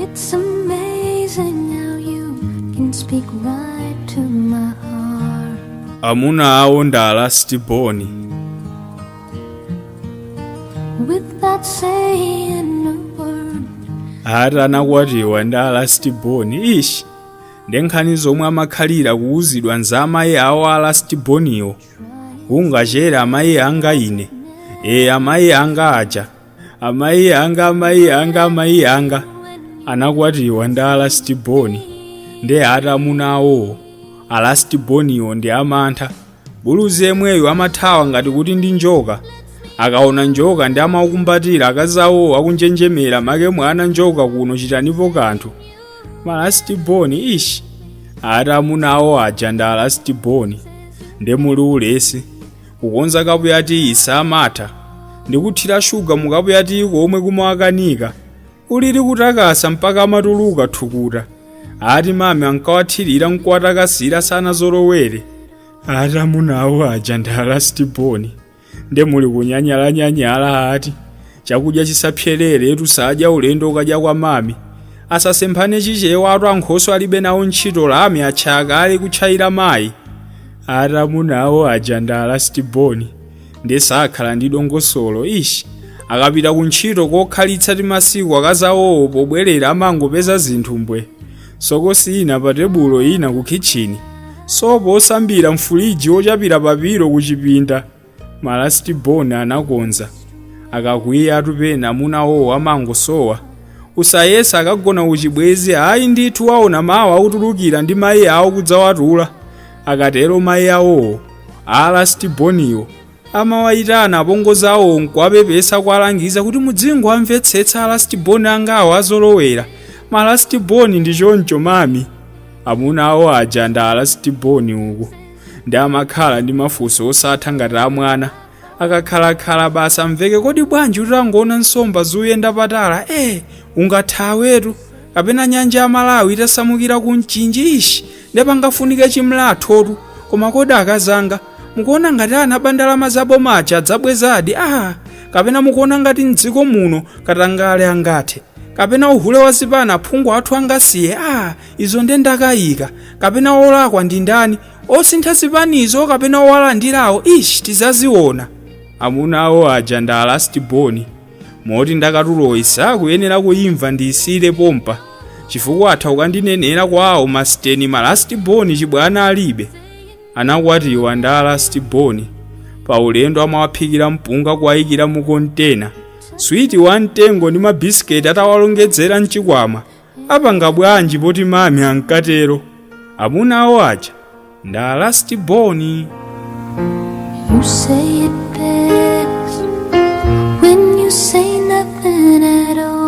It's amazing how you can speak right to my heart. amuna awo ndi alasitiboni Without saying a word, ati anakwatiwa ndi alasitiboni ishi ndi nkhani zomwe amakhalira kuwuzidwa za amayi awo alasitiboniwo kungachere amayi anga ine ee amayi anga aja amayi anga amayi anga amayi anga anakwatiwa ndi alastiboni ndi ati amuna awowo alastiboniwo ndi amantha buluzi yemweyo amathawa ngati kuti ndi njoka akaona njoka ndi amaukumbatira akazi awowo akunjenjemera make mwana njoka kuno chitanipo kanthu malastiboni ishi ati amuna awo aja ndi alastiboni nde muli ulesi kukonza kapu ya tiyi samatha ndi kuthira shuga mu kapu ya tiyi komwe kumawakanika olo kutakasa mpaka amatuluka thukuta ati mami ankawathirira nkuwatakasira sanazolowere ati amuna awo aja ndi alastiboni nde muli kunyanyalanyanyala ati chakudya chisapyereretu sadya ulendo ukadya kwa mami asasemphane chichewa ati ankhoso alibe nawo ntchito lamya atchaya kale kutchayira mayi ati amuna awo aja ndi alastiboni ndiye sakhala ndi dongosolo ishi akapita ku ntchito kokhalitsa timasiku akazawowo pobwerera amangopeza zinthu mbwe sokosi ina pa tebulo ina ku khitchini sopo osambira mfuliji wochapira pa pilo ku chipinda malasiti boni anakonza akakwiya ati pena amuna awowo amangosowa usayesa akagona kuchibwenzi ayi ndithu waona mawa akutulukira ndi mayi awo kudzawatula akatero mayi awowo alasiti boniwo amawayitana apongozi awo nkuwapepesa kuwalangiza kuti mudzingowamvetsetsa alasiti boni angawa anazolowera malasiti boni ndi choncho mami amuna awo aja ndi alasiti boni uku nde amakhala ndi mafunso osatha ngati a mwana akakhalakhala basi amveke kodi bwanji utangoona nsomba zoyenda pa tala eh ungathawetu kapena nyanja ya malawi itasamukira ku mchinji ishi nde pangafunike chimlathotu koma kodi akazanga mukuona ngati anaba ndalama za boma aja adzabwezadi ah kapena mukuona ngati mdziko muno katangale angathe kapena uhule wa zipani aphungu athu angasiye ah Izo nde ndakayika. Kapena wolakwa ndi ndani? Osintha zipanizo kapena owalandirawo? Ish! Tizaziona. Amuna awo aja ndi a last born moti ndakatuloyi sakuyenera kuyimva ndiyisiyire pompa chifukwa atha kukandinenera kwawo masiteni ma last born chibwana alibe. Anakwatiwa ndi a last born paulendo amawaphikira mpunga kuwayikira mu kontena switi wamtengo ndi mabisiketi atawalongedzera m'chikwama. apanga bwanji poti mami ankatero amuna awo aja nda last boni You say it best when you say nothing at all.